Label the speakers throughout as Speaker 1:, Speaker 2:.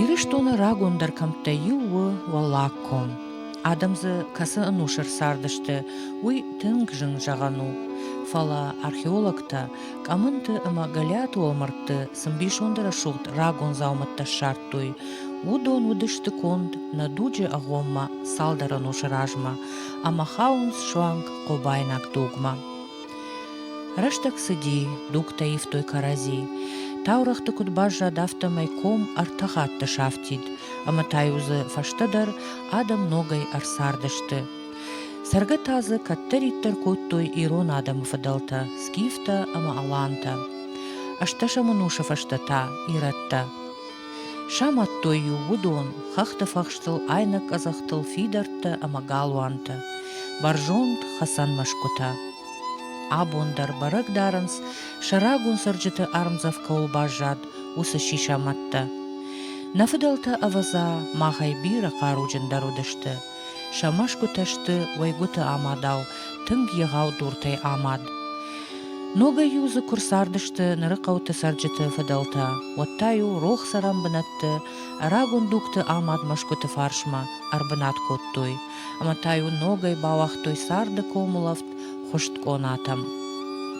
Speaker 1: Ирыстоны рагондӕр кӕмттӕй иу у Уӕллаг ком. Адӕм дзы кӕцы ӕнусыр цардысты, уый тынг зын зӕгъӕн у. Фӕлӕ археологтӕ Къӕмынты ӕмӕ Гӕлиаты уӕлмӕрдты цы мбисонды рӕсугъд рагон дзаумӕттӕ ссардтой, уыдон уыдысты конд нӕ дуджы агъоммӕ цалдӕр ӕнусы размӕ. ӕмӕ хауынц суанг хъобайнаг дугмӕ. Рӕстӕг цыди, дугтӕ ивтой кӕрӕдзи. Таурӕгъты куыд баззад, афтӕмӕй ком ӕртӕ хатты сафтид, ӕмӕ та-иу дзы фӕстӕдӕр адӕм ногӕй ӕрцардысты. Цӕргӕ та дзы кӕддӕриддӕр кодтой ирон адӕмы фыдӕлтӕ скифтӕ ӕмӕ алантӕ. Ӕстӕсӕм ӕнусы фӕстӕ та ирӕттӕ. Самадтой-иу уыдон хӕхты фӕхстыл айнӕг къӕдзӕхтыл фидӕрттӕ ӕмӕ галуантӕ, бӕрзонд хӕцӕн мӕсгуытӕ. Абон дӕр бӕрӕг дарынц, сӕ рагон цӕрджыты ӕрмдзӕф кӕуыл баззад, уыцы сисамӕттӕ. Нӕ фыдӕлтӕ, ӕвӕдза, махӕй бирӕ хъаруджындӕр уыдысты, Сӕ мӕсгуытӕ сты уӕйгуыты амадау, тынг егъау дуртӕй амад. Ногӕй-иу дзы куы рцардысты ныры хъӕуты цӕрджыты фыдӕлтӕ, уӕд та-иу рох цӕрӕн бынӕтты рагон дугты амад мӕсгуыты фарсмӕ ӕрбынат кодтой, ӕмӕ та-иу ногӕй бауагътой царды комулӕфт хызт къонатӕм.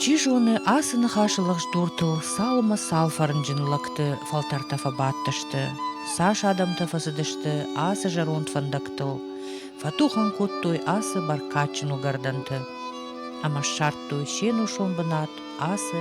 Speaker 1: Чи зоны, ацы ныхасы лӕгъздуртыл цал ӕмӕ цал фӕрнджын лӕгты фӕлтӕртӕ фӕбадтысты. Цас адӕмтӕ фӕцыдысты ацы зӕронд фӕндӕгтыл, фӕтухӕн кодтой ацы бӕркадджын уыгӕрдӕнты ӕмӕ ссардтой се нусон бынат ацы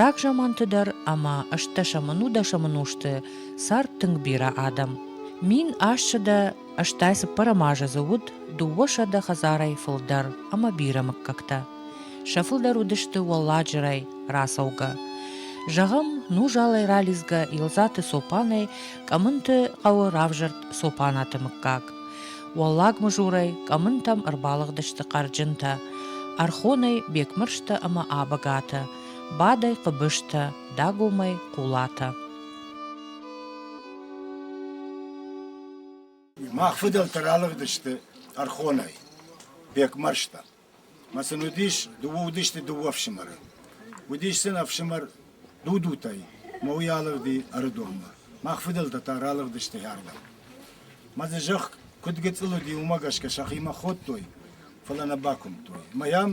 Speaker 1: Рагзаманты дӕр ӕмӕ ӕстдӕсӕмӕн-удӕсӕмӕн узты цард тынг бирӕ адӕм. Мин ассӕдӕ ӕстай цыппӕрӕм азы дзы уыд дыууӕсӕдӕ хӕдзарӕй фылдӕр ӕмӕ бирӕ мыггӕгтӕ. Сӕ фылдӕр уыдысты уӕлладжырӕй рацӕугӕ. Зӕгъӕм, Нужалӕй ралидзгӕ Илзаты Цопанӕй Къӕмынты хъӕуы равзӕрд Цопанаты мыггаг. Уӕллаг мызурӕй къӕмынтӕм ӕрбалыгъдысты хъӕрджынтӕ. Ӕрхонӕй Бекмырзтӕ ӕмӕ Абагатӕ, бадӕй Хъыбызтӕ, дагомӕй Хъулатӕ.
Speaker 2: Мах фыдӕлтӕ ралыгъдысты Ӕрхонӕй, Бекмӕрзтӕ. Мӕ сын уыдис, дыууӕ уыдысты дыууӕ ӕфсымӕры. Уыдис сын ӕфсымӕр Дудутӕй, мӕ уый алыгъди Ӕрыдонмӕ. Мах фыдӕлтӕ та ралыгъдысты хӕрдӕм. Мӕ дзы зӕхх куыд гыцъыл уыди, уымӕ гӕсгӕ сӕхимӕ ходтой, фӕлӕ нӕ бакуымдтой. Мӕ йӕм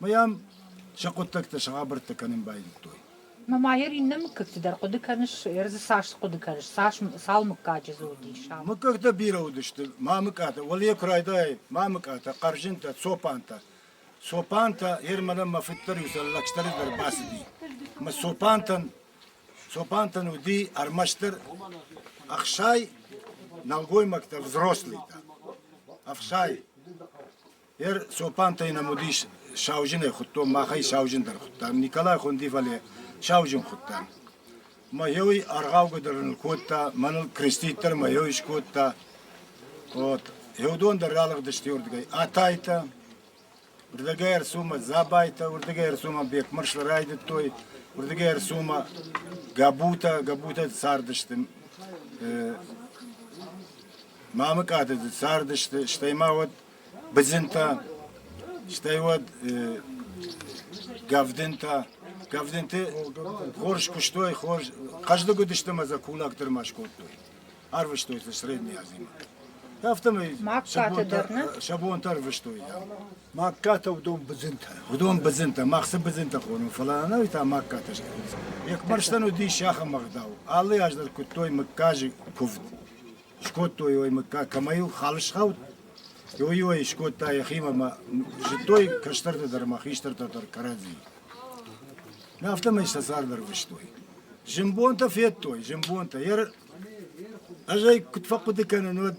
Speaker 2: Мы йӕм сӕ хъуыддӕгтӕ, сӕ хабӕрттӕ кӕнын байдыдтой. Мамайыр иннӕ
Speaker 3: мыггӕгты дӕр хъуыды кӕныс? Ӕрдзы цас хъуыды кӕныс? Цас, цал мыггаджы дзы уыдис? Ам? Мыггӕгтӕ бирӕ уыдысты,
Speaker 2: мамыкъатӕ, уӕле куы райдайай, мамыкъатӕ, хъӕрзынтӕ, цопантӕ. Цопантӕ, ер мӕнӕн мӕ фыддӕр-иусӕр лӕгсдӕры дӕр бацыди. Мӕ цопантӕн, цопантӕн уыди ӕрмӕстдӕр ӕхсай, нӕлгоймӕгтӕ, взрослыйтӕ. Ӕхсай. Ер цопантӕй нӕм уыдис сауджынӕй хуыдтон, махӕй сауджындӕр хуыдтам, Николай хуынди, фӕлӕ сауджын хуыдтам. Мӕ йой аргъаугӕ дӕр ныл кодта, мӕныл крестит дӕр мӕ йой скодта. Вот. И уыдон дӕр ралыгъдысты уырдыгӕй. Атайтӕ, уырдыгӕй ӕрцумӕ Забайтӕ, уырдыгӕй ӕрцумӕ Бекмырзлы райдыдтой, уырдыгӕй ӕрцумӕ Гӕбутӕ, Гӕбутӕ цардысты. Мамыкъаты цардысты, стӕй ма уӕд Быдзинтӕ, стӕй уӕд Гӕвдинтӕ. Гӕвдинты хорз куыстой, хорз хъӕздыг уыдысты ӕмӕ дзы кулак дӕр ма скодтой. Арвыстой дзы средней азимӕ. Афтӕмӕй
Speaker 3: сӕ бонтӕ ӕрвыстой.
Speaker 2: Магкатӕ
Speaker 4: уыдон быдзынтӕ. Уыдон быдзынтӕ,
Speaker 2: мах цы быдзынтӕ хонam, фӕлӕ ӕнӕуи та магкатӕ схонынц. Йе кмӕрстӕн уыдис сӕхӕм ӕгъдау. Алы аз дӕр куыдтой мыггаджы куывд. скодтой уой мыггаг, кӕмӕ йыл хал схауд, уый-уой скодта йӕхимӕ ӕмӕ зыдтой кӕстӕртӕ дӕр ӕмӕ хистӕртӕ дӕр кӕрӕдзийы. Афтӕмӕй сӕ цард ӕрвыстой. Зымбонтӕ федтой, зымбонтӕ. Ӕз ӕй куыд фӕхъуыды кӕнын, уӕд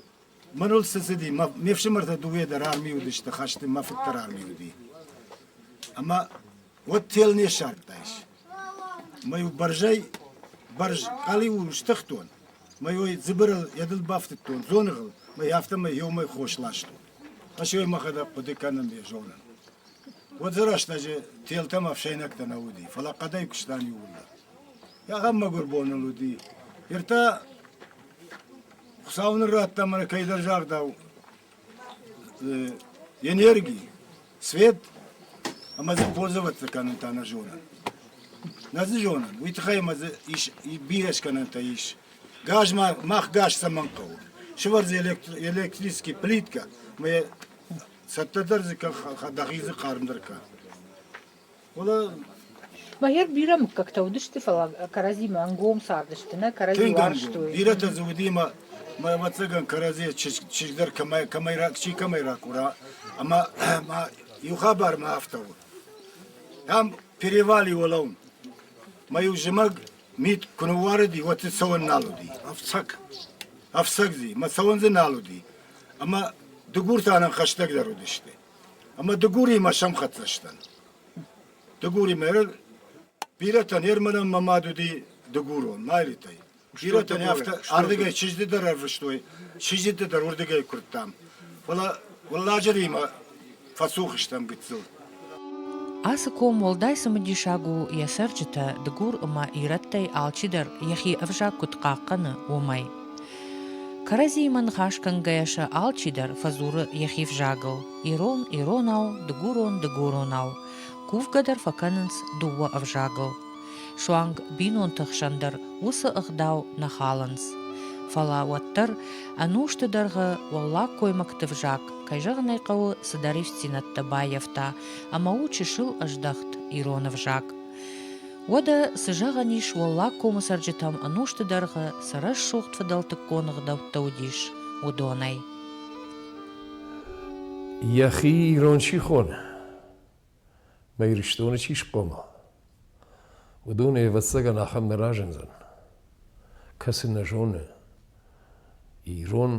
Speaker 2: мӕныл цы цыди, ме фсымӕртӕ дыууӕ дӕр арми уыдысты, хӕсты мӕ фыд дӕр арми уыди. Ӕмӕ уӕд тел не ссардтайс. Мӕ-иу бӕрзӕй бӕрз къалиу стыхтон, мӕ-иу дзыбырыл йӕ дыл бафтыдтон дзоныгъыл, мӕй афтӕмӕй ёмӕй хос ластон. Ӕсёй мӕхӕдӕг хъуыды кӕнын ӕй зонын. Уӕд дзы рӕстӕджы телтӕм ӕфсӕйнӕгтӕ нӕ уыди, фӕлӕ хъӕдӕй куыстам иууылдӕр. Ахӕм мӕгуыр бон ыл уыди. Ныр та Хуыцау ныр радта мӕнӕ кӕйдӕр загъдау, энерги, свет ӕмӕ дзы пользоваться кӕнын та нӕ зонӕн. Нӕ дзы зонӕн. Уый тыххӕй ӕмӕ дзы ис бирӕ скӕнӕнтӕ ис. Газ мах газ цӕмӕн хъӕуы? Сывӕрдзы электрический плитка, ӕмӕ цӕттӕдӕр дзы дӕхи дзы хъармдӕр кӕн.
Speaker 3: Мӕйӕр бирӕ мыггӕгтӕ уыдысты, фӕлӕ кӕрӕдзимӕ ӕнгом цардысты, нӕ кӕрӕдзи уарзтой. Бирӕтӕ дзы уыди, ӕмӕ
Speaker 2: мӕ ӕвӕццӕгӕн кӕрӕдзи чызг дӕр кӕмӕй, кӕмӕй, чи кӕмӕй ракура. Ӕмӕ ма иу хабар ма афтӕ у. Там перевали уӕлӕуын. Мӕ-иу зымӕг мит куы ныууарыди, уӕд дзы цӕуӕн нал уыди. Ӕфцӕг. Ӕфцӕг дзы. Мӕ цӕуӕн дзы нал уыди. Ӕмӕ дыгуртӕ ӕнӕн хӕстӕгдӕр уыдысты. Ӕмӕ Дыгуримӕ сӕмхӕццӕ сдӕн. Дыгуримӕ бирӕтӕн Ерманӕн мӕ мад уыди дыгурон, Майлитӕй. Бирӕтӕн афтӕ ардыгӕй чызджыты дӕр ӕрвыстой, чызджыты дӕр уырдыгӕй куырдтам. Фӕлӕ Уӕлладжыримӕ фӕцух стӕм гыццыл.
Speaker 1: Ацы ком уӕлдай цымыдисаг у йӕ цӕрджытӕ, дыгур ӕмӕ ирӕттӕй алчидӕр йӕхи ӕвзаг куыд хъахъхъӕны, уымӕй. Кӕрӕдзийы ныхасгӕнгӕйӕ сӕ алчидӕр фӕдзуры йӕхи взагыл: ирон иронау, дыгурон дыгуронау, кувгӕ дӕр фӕкӕнынц дыууӕ ӕвзагыл. Суанг бинонты хсӕн дӕр уыцы ӕгъдау нӕ халынц. Фӕлӕ уӕддӕр ӕнусты дӕргъы уӕллаг коймӕгты взаг, кӕй зӕгъын ӕй хъӕуы, цыдӕр ивддзинӕдтӕ баййӕфта ӕмӕ у чысыл ӕздӕхт ирон ӕвзаг. Уӕдӕ, цы зӕгъӕн ис, Уӕллаг комы цӕрджытӕм ӕнусты дӕргъы цы рӕсугъд фыдӕлтыккон ӕгъдӕуттӕ уыдис, уыдонӕй.
Speaker 5: Йӕхи ирон чи хоны, мӕ Ирыстоны чи схъомыл, уыдонӕй ӕвӕццӕгӕн ахӕм нӕ разындзӕн, кӕцы нӕ зоны ирон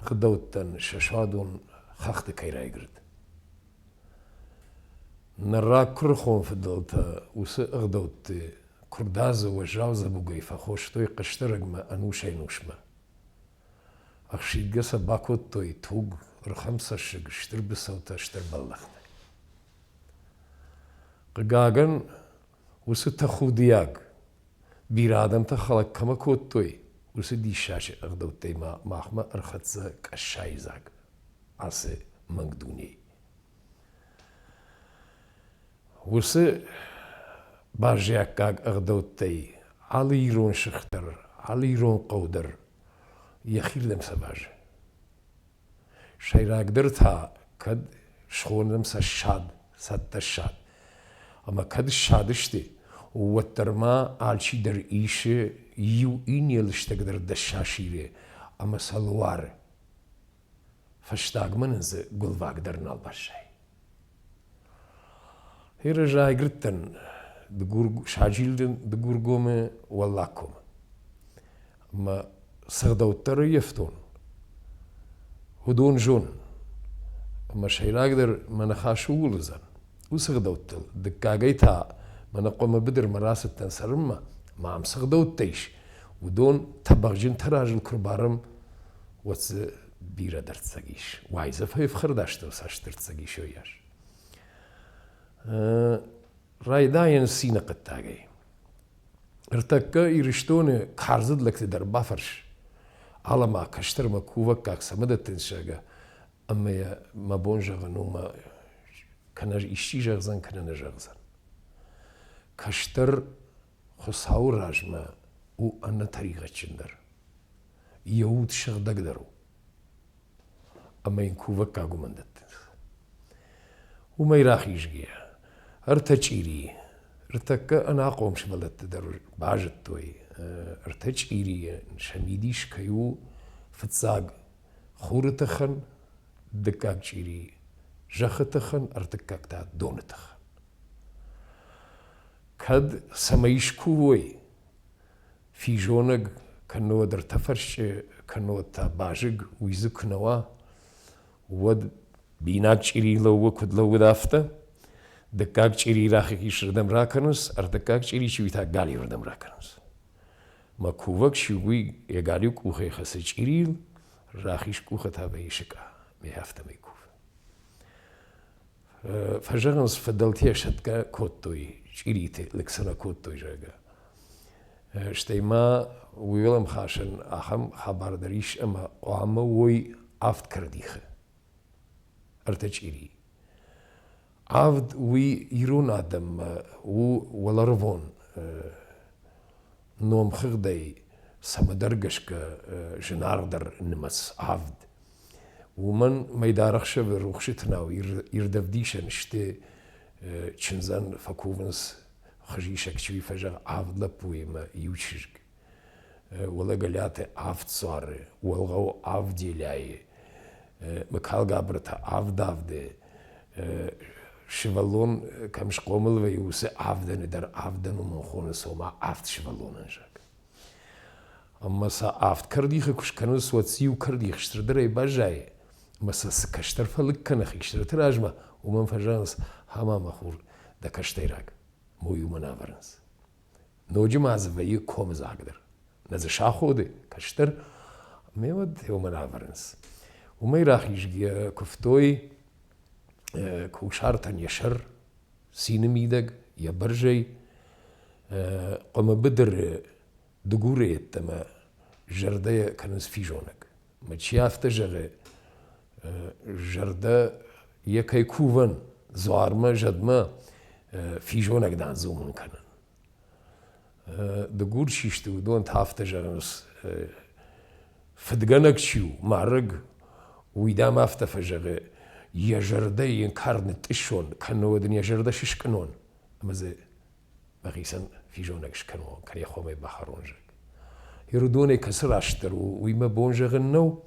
Speaker 5: гъдӕуттӕн сӕ суадон хӕхты кӕй райгырд. Ныр рагкуырыхон фыдӕлтӕ уыцы ӕгъдӕутты куырдадзы уӕззау дзӕбугӕй фӕхостой хъӕсдарӕгмӕ ӕнусӕй-нусмӕ. Ӕхсидгӕ сӕ бакодтой туг, рхӕмцӕссыг, стыр быцӕутӕ, стыр бӕллӕхтӕ. Хъыгагӕн, уыцы тӕхудиаг, бирӕ адӕмтӕ хӕлӕг кӕмӕ кодтой, уыцы диссаджы ӕгъдӕуттӕй ма махмӕ ӕрхӕццӕ Къӕссайы дзаг ацы мӕнг дунейы. Уыцы баззиаггаг ӕгъдӕуттӕй алы ирон сых дӕр, алы ирон хъӕу дӕр йӕхирдӕм сӕвӕры. Сӕйрагдӕр та кӕд схонӕм сӕ ссад, цӕттӕ ссад. Ӕмӕ кӕд ссадысты, уӕддӕр ма алчидӕр исы иу иннӕ лыстӕгдӕр дӕс сасиры ӕмӕ сӕ луары. Фӕстагмӕ нын дзы гуылваг дӕр нал баззайы. Иры райгырдтӕн Дыгур, саджилды Дыгургомы Уӕллагкомы. Мӕ цы гъдӕуттӕ раййӕфтон, уыдон зонын. Ӕмӕ сӕйрагдӕр мӕ ныхас ууыл уыдзӕн, уыцы гъдӕуттыл дыккагӕй та мӕнӕ хъуамӕ быдырмӕ рацыдтӕн цӕрынмӕ, ма ам цы гъдӕуттӕ ис, уыдон тӕбӕгъджынтӕ разыл куы рбарӕм, уӕд дзы бирӕ дӕрддзӕг ис. Уай дзы фӕфхӕрдастӕу цасдӕрддзӕг ис йойас. Райдайын цины хъуыддагӕй. Ӕртӕккӕ Ирыстоны карзыд лӕгты дӕр бафӕрс. Алӕ-ма, кӕстӕр мӕ кувӕггаг цӕмӕ дӕттынц зӕгъгӕ, ӕмӕ йӕ мӕ бон зӕгъын у мӕ кӕнӕ исчи зӕгъдзӕн, кӕнӕ нӕ зӕгъдзӕн. Кӕстӕр Хуыцауы размӕ у ӕнӕтӕригъӕдджындӕр. Йӕ уд сыгъдӕгдӕр у. Ӕмӕ йын кувӕггаг уымӕн дӕттынц. Уымӕй рахизгӕйӕ, ӕртӕ чъири, ӕртӕккӕ ӕнахъом сывӕллӕтты дӕр базыдтой, ӕртӕ чъирийы сӕ мидис кӕй у фыццаг хуры тыхӕн, дыккаг чъири зӕххы тыхӕн, ӕртыккаг та доны тыхӕн. Кӕд цӕмӕй скувой, физонӕг кӕннод ӕртӕ фӕрсчъы кӕннод та базыг, уый дзы куы нӕ уа, уӕд бинаг чъири лӕууы, куыд лӕууыд, афтӕ. Дыккаг чъири рахих исырдӕм ракӕнынц, ӕртыккаг чъири чи уый та галиуырдӕм ракӕнынц. Мӕ кувӕг чи у, уый йӕ галиу къухӕй хӕцы чъирийыл, рахиз къухы та вӕййы сыкъа. Ме афтӕмӕй кувы. фӕзӕгъынц, фыдӕлтӕ сӕтгӕ кодтой, чъириты лыг сӕ кодтой, зӕгъгӕ. Стӕй ма уӕлӕмхасӕн ахӕм хабар дӕр ис, ӕмӕ хъуамӕ уой авд кӕрдихы. Ӕртӕ чъири. Авд уый ирон адӕммӕ у уӕларвон номхыгъдӕй цӕмӕдӕр гӕсгӕ зынаргъдӕр нымӕц авд. Уымӕн мӕйдар ӕхсӕвы рухсыты нау ирдӕвдисӕн сты чындзӕн фӕкувынц хызисӕг чи фӕзӕгъы авд лӕппуимӕ иу чызг. Уӕлӕгӕлӕты авд цуары, Уӕлгъӕуы авд делӕйы, Мыкалгабыры та авд авды, сывӕллон кӕм схъомыл вӕййы, уыцы авдӕны дӕр авдӕнон хоны цома авд сывӕллонӕн зӕгъ. Ӕмӕ сӕ авд кӕрдихы куы скӕнынц, уӕд цы иу кӕрдих стырдӕрӕй баззайы, ӕмӕ сӕ цы кӕстӕр фӕлыг кӕны хи стырты размӕ, уымӕн фӕзӕгъынц, ха-ма, мӕ хур, дӕ кӕстӕйраг, мой уымӕн ӕвӕрынц. Ноджы ма дзы вӕййы комыдзагдӕр. Нӕ дзы саходы кӕстӕр, ӕмӕ уӕд уымӕн ӕвӕрынц. Уымӕй рахизгӕ куывтой кусартӕн йӕ сӕр, сины мидӕг, йӕ бӕрзӕй къуымы быдыры дыгуры йеддӕмӕ зӕрдӕ кӕнынц физонӕг. Ӕмӕ чи афтӕ зӕгъы, зӕрдӕ йӕ кӕй кувӕн дзуармӕ, зӕдмӕ физонӕг дӕн дзурын кӕнын. Дыгур чи сты, уыдон та афтӕ зӕгъынц, фыдгӕнӕг чи у, марӕг, уый дӕм афтӕ фӕзӕгъы, йӕ зӕрдӕ йын кар нытъыссон, кӕннод ын йӕ зӕрдӕ сыскънон. Ӕмӕ дзы мӕхицӕн физонӕг скӕнон, кӕнӕ хомӕй бахӕрон, зӕгъ. Ирыдонӕй кӕцы растдӕр у, уый мӕ бон зӕгъын нӕу,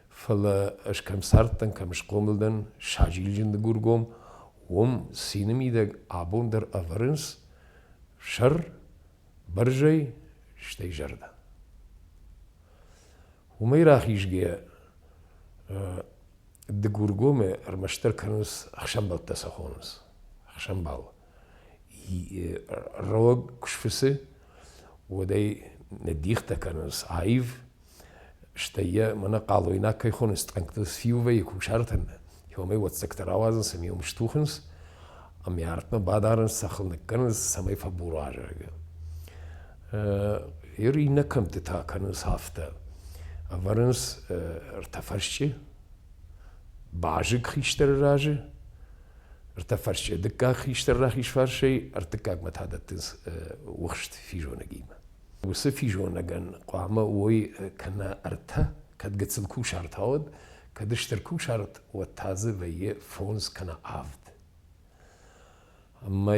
Speaker 5: фӕлӕ ӕз кӕм цардтӕн, кӕм схъомыл дӕн, саджилджын дыгургом, уым цины мидӕг абон дӕр ӕвӕрынц сӕр, бӕрзӕй, стӕй зӕрдӕ. Уымӕй рахизгӕ Дыгургомы ӕрмӕстдӕр кӕнынц ӕхсӕнбӕлттӕ сӕ хонынц. Ӕхсӕнбал ролог кусфысы уодӕй нӕ дихтӕ кӕнунц аив, стӕй е мӕнӕ хъалойнаг кӕй хонынц тъӕнгтыл сфиувӕйы кусартӕн. Омӕй уоддзӕгтӕ рауадзынц ӕмӕ йӕм стухынц, ӕмӕ артмӕ бадарынц, сӕхыл ныккӕнынц, цӕмӕй фӕбура, зӕгъгӕ. Ир иннӕ кӕмтты та кӕнынц афтӕ. Ӕвӕрынц ӕртӕ фӕсчъы, базыг хистӕры разы, ӕртӕфӕрсче. Дыккаг хистӕр рахизфарсӕй ӕртыккагмӕ та дӕттынц ухст физонӕгимӕ. Уыцы физонӕгӕн хъуамӕ уой кӕнӕ ӕртӕ, кӕд гыццыл кусарт ауад, кӕд стыр кусарт, уӕд та дзы вӕййы фондз кӕнӕ авд. Ӕмӕ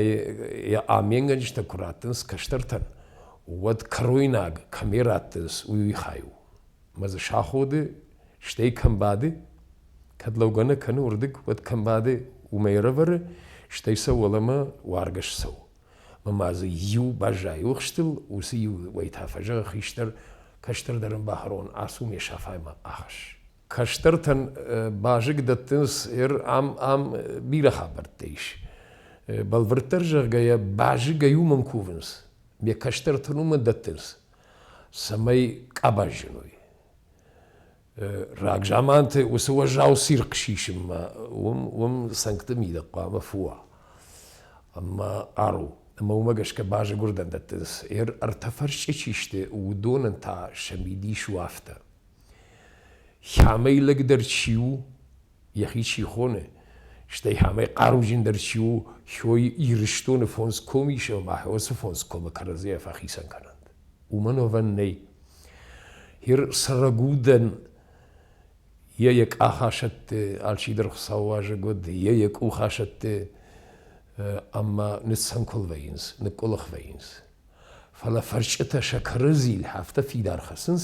Speaker 5: йӕ аменгӕнджытӕ куы раттынц кӕстӕртӕн, уӕд кӕройнаг кӕмӕ раттынц, уый хай у. Ӕмӕ дзы саходы, стӕй кӕм бады, кӕд лӕугӕ нӕ кӕны уырдыг, уӕд кӕм бады, уымӕй ӕрӕвӕры, стӕй сӕ уӕлӕмӕ уаргӕ ссӕуы. Ӕмӕ ма дзы иу баззайы охстыл, уыцы иу уӕй та фӕзӕгъы хистӕр, кӕстӕрдӕр ын бахӕрон, ацу ме сафаймӕ ахӕсс. Кӕстӕртӕн базыг дӕттынц, ам ам бирӕ хабӕрттӕ ис. Бӕлвырддӕр зӕгъгӕйӕ, базыгӕй уымӕн кувынц, ме кӕстӕртӕн уымӕн дӕттынц. цӕмӕй къабаз зыной. Рагзаманты уыцы уӕззау цирхъ сисынмӕ уым, уым цӕнгты мидӕг хъуамӕ фуа ӕмӕ ару. Ӕмӕ уымӕ гӕсгӕ базыгуырдӕн дӕттынц, ӕртӕ фӕрсчъы чи сты, уыдонӕн та сӕ мидис у афтӕ. Хямӕй лӕгдӕр чи у, йӕхи чи хоны, стӕй амӕй хъаруджындӕр чи у, хой Ирыстоны фондз комы ис ӕмӕ уыцы фондз комы кӕрӕдзийӕ фӕхицӕн кӕнӕнт. Уымӕн ӕвӕн нӕй. Ир срагудӕн йӕ йӕ къахасӕтты алчидӕр хуыцаууазӕг уыд, йӕ йӕ къухасӕтты ӕмӕ ныццӕнкуыл вӕййынц, ныкъкъуылых вӕййынц. Фӕлӕ фӕрсчъытӕ сӕ кӕрӕдзийыл афтӕ фидар хӕцынц,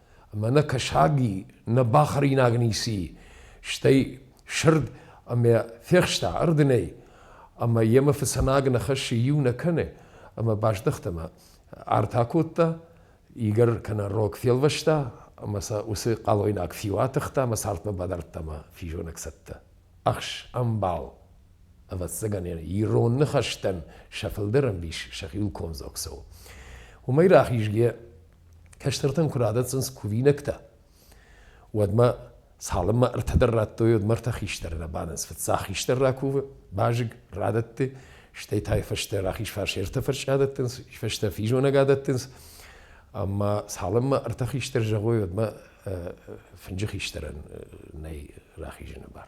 Speaker 5: ӕмӕ нӕ кӕсаг и, нӕ бахӕринаг ницы и. Стӕй сырд ӕмӕ фехста ӕрдынӕй, ӕмӕ йемӕ фыцӕнаг нӕ хӕссы иу нӕ кӕны, ӕмӕ баздӕхт ӕмӕ арт акодта, игӕр кӕнӕ рог фелвӕста ӕмӕ сӕ уыцы хъалойнаг фиу атыхта ӕмӕ цартмӕ бадардта ӕмӕ физонӕг цӕттӕ. Ӕхс, ӕмбал, ӕвӕццӕгӕн ирон ныхӕстӕн сӕ фылдӕр ӕмбис сӕхи кондзог цӕуы. Уымӕй рахизгӕ кӕстӕртӕн куы радӕтдзӕнс кувинӕгтӕ, уӕдмӕ цалынмӕ ӕртӕдӕр радтой, уӕдмӕ ӕртӕ хистӕры рабадынц. Фыццаг хистӕр ракувы, базыг радӕтты, стӕй та фӕстӕ рахиз фарс ӕртӕ фӕрсчы адӕттынц, фӕстӕ физонӕг адӕттынц. Ӕмӕ цалынмӕ ӕртӕ хистӕр зӕгъой, уӕдмӕ фынджы хистӕрӕн нӕй рахизыны бар.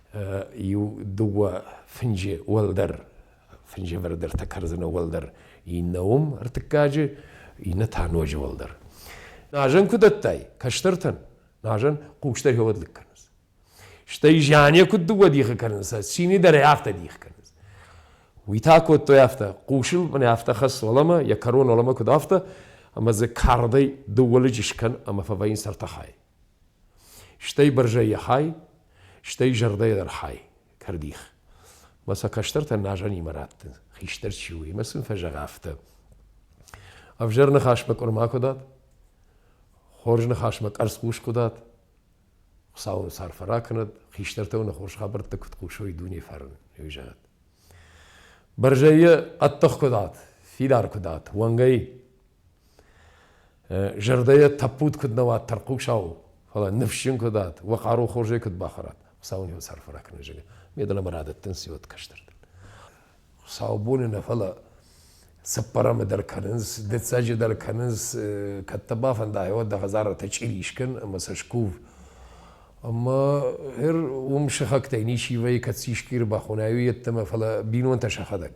Speaker 5: иу дыууӕ фынджы уӕлдӕр фынджывӕрд ӕртӕ кӕрдзыны уӕлдӕр иннӕ уым ӕртыккаджы, иннӕ та ноджы уӕлдӕр. Назан куы дӕттай кӕстӕртӕн, назан хъустӕ фӕуӕд лыг кӕнынц. Стӕй зиане куыд дыууӕ дихы кӕнынц, цины дӕр ӕй афтӕ дих кӕнынц. Уый та кодтой афтӕ, хъусыл мын афтӕ хӕсс уӕлӕмӕ, йӕ кӕрон уӕлӕмӕ куыд афтӕ, ӕмӕ дзы кардӕй дыууӕ лыджы скӕн ӕмӕ фӕвӕййын сӕртӕхӕй. Стӕй бӕрзӕй йӕ хай, стӕй зӕрдӕйӕ дӕр хай, кӕрдих. Мӕ сӕ кӕстӕртӕ назанимӕ радты, хистӕр чи у, имӕ сын фӕзӕгъ афтӕ. Ӕвзӕр ныхасмӕ къуырма куы дат, хорз ныхасмӕ къӕрцхъус куы дат, Хуыцау ын сарф ракӕнӕд, хистӕртӕ уын хорз хабӕрттӕ куыд хъусой дуне фарн, уый зӕгъӕд. Бӕрзӕй йӕ ӕддых куы дат, фидар куы дат, уӕнгӕй Зӕрдӕйӕ тӕппуд куыд нӕ уат тӕрхъусау, фӕлӕ ныфсджын куыд уат, уӕ хъару хорзӕй куыд бахӕрат, Хуыцау ын йӕ сӕрфы ракӕны, зӕгъы. Ме дӕлӕ мӕ радӕттынц иуӕд кӕстӕртӕн. Хуыцаубоны нӕ, фӕлӕ цыппӕрӕмы дӕр кӕнынц, дыццӕджы дӕр кӕнынц, кӕд дӕ бафӕнда, айуад дӕ хӕдзарӕтӕ чъири скӕн ӕмӕ сӕ скув. Ӕмӕ гъер уым сыхӕгтӕй ничи вӕййы, кӕд сискъиры бахонай, уый йеддӕмӕ, фӕлӕ бинонтӕ сӕхӕдӕг.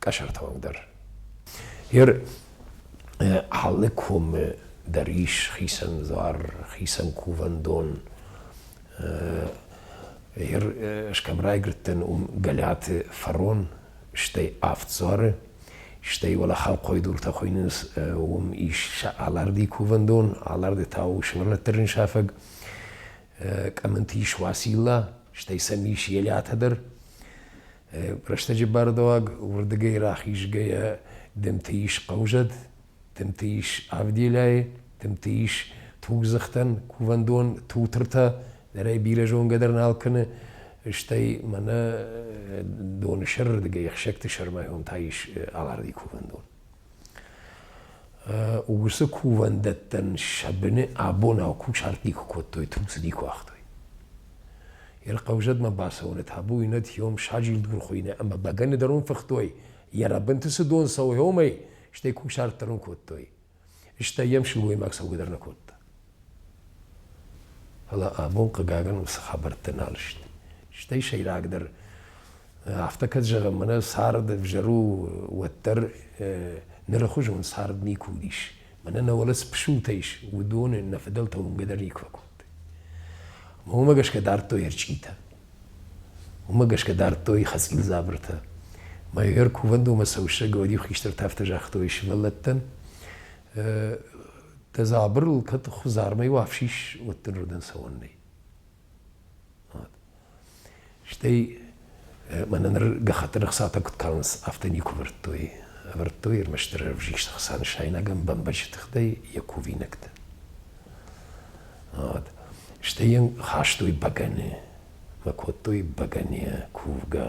Speaker 5: къӕсӕртауӕг дӕр. Ер алы комы дӕр ис хицӕн дзуар, хицӕн кувӕндон. Ер скӕм райгрыдтӕн уым Галиаты фарон, стӕй авд дзуары, стӕй уӕле хӕлхъойдуртӕ хуыйнынц уым ис сӕ аларди кувӕндон, аларды та у сывӕллӕттӕрын сафӕг, къӕмынты ис Уацилла, стӕй сӕм ис Елиатӕ дӕр. Рӕстӕджы бардуаг уырдыгӕй рахизгӕйӕ дымты ис хъӕузӕд, дымты ис Авделӕй, дымты ис тугдзыхтӕн кувӕндон Тутыртӕ, нырӕй бирӕ зонгӕ дӕр нал кӕны, стӕй мӕнӕ доны сӕрырдыгӕй ӕхсӕгты сӕрмӕ уым та ис Аларди кувӕндон. уыцы кувӕндӕттӕн сӕ быны абонау кусарти куы кодтой, тунцыди куы уагътой. Йе хъӕузӕдмӕ бацӕуыны табу йын ӕд саджилдгур хуыйны ӕмӕ бӕгӕны дӕр уын фыхтой, йӕ рӕбынты цы дон цӕуы, уымӕй, стӕй кусарт дӕр ын кодтой. Стӕй йӕм сылгоймаг цӕугӕ дӕр нӕ кодта. Фӕлӕ абон, хъыгагӕн, уыцы хабӕрттӕ нал сты. Стӕй сӕйрагдӕр, афтӕ кӕд зӕгъӕм, мӕнӕ цард ӕвзӕр у, уӕддӕр нырыхуызон цард никуы уыдис. Мӕнӕ нӕ уӕлӕ цы пысултӕ ис, уыдон нӕ фыдӕлтӕ уынгӕ дӕр никуы фӕкодтой. Уымӕ гӕсгӕ дардтой ӕрчъитӕ. Уымӕ гӕсгӕ дардтой хӕцъил дзабыртӕ. Мӕ егер кувӕндонмӕ цӕуы сӕ Гаудих хистӕртӕ афтӕ загътой сывӕллӕттӕн, Дӕ дзабырыл кӕд хуызармӕй уа фсис, уӕддӕр уыдӕн цӕуӕн нӕй. Стӕй мӕнӕ ныр гӕххӕттӕн ӕхцатӕ куыд калынц, афтӕ никуы ӕвӕрдтой. Ӕвӕрдтой ӕрмӕстдӕр ӕвзист ӕхца нысайнагӕн бӕмбӕджы тыхтӕй йӕ кувинӕгтӕ. Стӕй йын хастой бӕгӕны, мӕ кодтой бӕгӕныйӕ кувгӕ.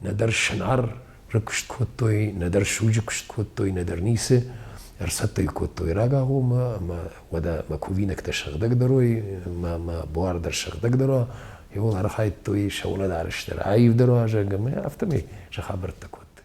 Speaker 5: нӕдӕр сынарры куыст кодтой, нӕдӕр суджы куыст кодтой, нӕдӕр ницы. Ӕрцӕттӕ кодтой рагагъоммӕ, ӕмӕ уӕдӕ мӕ кувинӕгтӕ сыгъдӕгдӕрой, мӕ, мӕ буар дӕр сыгъдӕгдӕр уа, архайдтой сӕ унадарыстӕр, аивдӕр уа, зӕгъгӕ, мӕ афтӕмӕй сӕ хабӕрттӕ кодтой.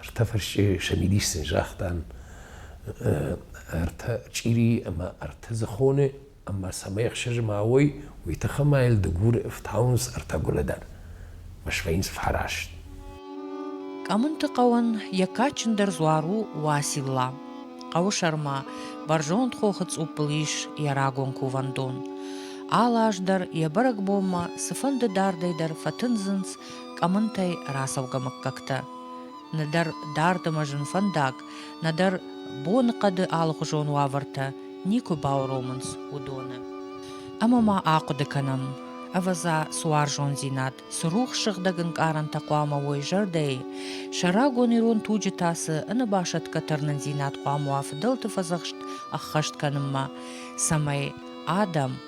Speaker 5: Ӕртӕ фӕрсчъы Шамилис сын загътан ӕртӕ чъири ӕмӕ ӕртӕ дзыхоны, ӕмӕ цӕмӕй ӕхсӕз ма уой, уый тыххӕй ма йыл дыгуры ӕфтауынц ӕртӕ гуылӕдӕн, ӕмӕ свӕййынц фараст. Къӕмынты хъӕуӕн
Speaker 1: йӕ кадджындӕр дзуар у Уацилла. Хъӕуы сӕрмӕ бӕрзонд хохы цъуппыл ис йӕ рагон кувӕндон. Алы аз дӕр йӕ бӕрӕгбонмӕ цыфӕнды дардӕй дӕр фӕтындзынц къӕмынтӕй рацӕугӕ мыггӕгтӕ. Нӕдӕр дард ӕмӕ зын фӕндаг, нӕдӕр боныхъӕды алыхуызон уавӕртӕ никуы бауромынц уыдоны. Ӕмӕ ма ахъуыды кӕнӕм, ӕвӕдза, цы уарзондзинад, цы рухс сыгъдӕг ӕнкъарӕнтӕ хъуамӕ уой зӕрдӕйы, сӕ рагон ирон туджы та цы ӕнӕбасӕтгӕ тырнындзинад хъуамӕ уа фыдӕлты фӕдзӕхст ӕххӕст кӕнынмӕ, цӕмӕй адӕм,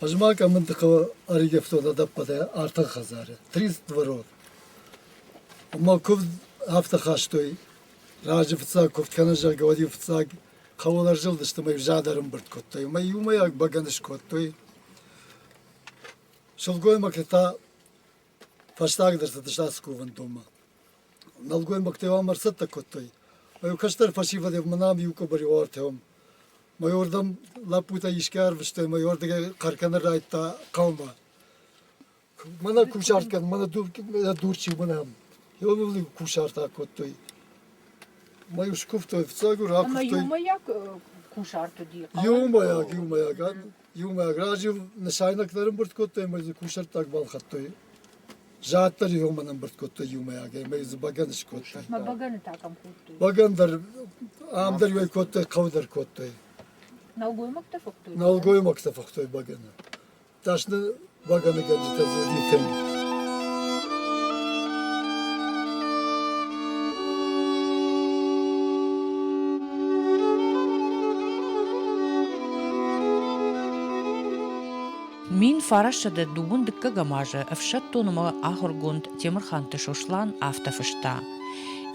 Speaker 4: Hozima Къӕмындыхъӕуы ӕривӕзтон ӕдӕппӕтӕй артӕн хӕдзары, три дворов. Ӕмӕ куывд афтӕ хастой, раджы фыццаг куывд кӕнӕ, зӕгъгӕ, уӕд-иу фыццаг хъӕуыл ӕрзылдысты ӕмӕ-иу зад ӕрымбырд кодтой. Ӕмӕ иумӕйаг бӕгӕны скодтой. Сылгоймӕгтӕ та фӕстагдӕр цыдысты ацы кувӕндонмӕ. Нӕлгоймӕгтӕ-иу ам ӕрцӕттӕ кодтой. Ӕмӕ-иу кӕстӕр фӕсивӕд мӕнӕ ам иу къуыбыри уавӕртӕ уым Майордам лӕппутӕ искӕй арвыстой, майордыгӕй хъӕркӕнын райдта хъӕумӕ. Мӕнӕ кусарт кӕн, мӕнӕ дурчи уынӕм. Йоныл-иу кусарт акодтой. Мӕ иу скуывтой, фыццаг уыр Ӕмӕ акуывтой. иумӕйаг
Speaker 3: кусарт уыди? Иумӕйаг, иумӕйаг.
Speaker 4: Иумӕйаг. Раджы нысайнӕгтӕ ӕрӕмбырд кодтой ӕмӕ дзы кусӕрттаг балхӕдтой. Зад дӕр иронмӕ ӕмбырд кодтой иумӕйагӕй, ӕмӕ дзы бӕгӕны скодтой. Мӕ бӕгӕны та кӕм
Speaker 3: кодтой? Бӕгӕн дӕр,
Speaker 4: ам дӕр уӕй кодтой, хъӕу дӕр кодтой.
Speaker 3: Нӕлгоймӕгтӕ фыхтой?
Speaker 4: Нӕлгоймӕгтӕ фыхтой бӕгӕны. Дӕсны бӕгӕныгӕнджытӕ дзы уыди тынг.
Speaker 1: Мин фарасӕдӕ дыууын дыккӕгӕм азы ӕфсӕддон ӕмӕ ахуыргонд Темырханты Сослан афтӕ фыста,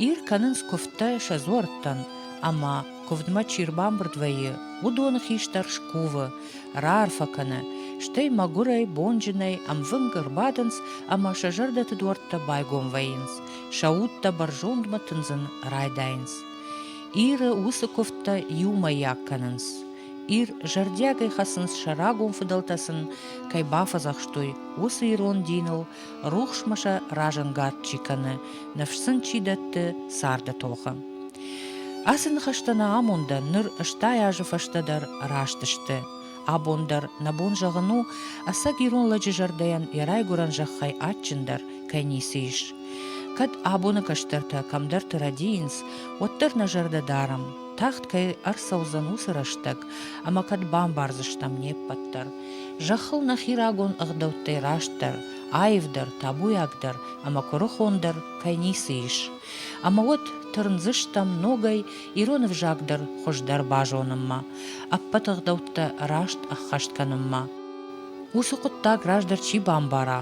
Speaker 1: Ир кӕнынц куывдтӕ сӕ дзуӕрттӕн, ӕмӕ, куывдмӕ чи рбамбырд вӕййы, уыдоны хистӕр скувы, раарфӕ кӕны, стӕй мӕгуырӕй, бонджынӕй ӕмвынг ӕрбадынц ӕмӕ сӕ зӕрдӕты дуӕрттӕ байгом вӕййынц, сӕ удтӕ бӕрзондмӕ тындзын райдайынц. Иры уыцы куывдтӕ иумӕйаг кӕнынц. Ир зӕрдиагӕй хӕцынц, сӕ рагон фыдӕлтӕ сын кӕй бафӕдзӕхстой, уыцы ирон диныл, рухсмӕ сӕ разӕнгард чи кӕны, ныфс сын чи дӕтты, царды тохы. Ацы ныхӕстӕ нӕ амонды ныр стай азы фӕстӕ дӕр раст сты. Абон дӕр нӕ бон зӕгъын у, ӕцӕг ирон лӕджы зӕрдӕйӕн йӕ райгуырӕн зӕххӕй адджындӕр кӕй ницы ис. Кӕд абоны кӕстӕртӕ кӕмдӕрты рӕдийынц, уӕддӕр нӕ зӕрдӕ дарӕм, тагъд кӕй ӕрцӕудзӕн, уыцы рӕстӕг ӕмӕ кӕд бамбардзыстӕм не ппӕт дӕр зӕххыл нӕхи рагон ӕгъдӕуттӕй растдӕр, аивдӕр, табуйагдӕр ӕмӕ куырыхондӕр кӕй ницы ис. Ӕмӕ уӕд тырндзыстӕм ногӕй ирон ӕвзаг дӕр хуыздӕр базонынмӕ, ӕппӕт ӕгъдӕуттӕ раст ӕххӕст кӕнынмӕ. Уыцы хъуыддаг раздӕр чи бамбара,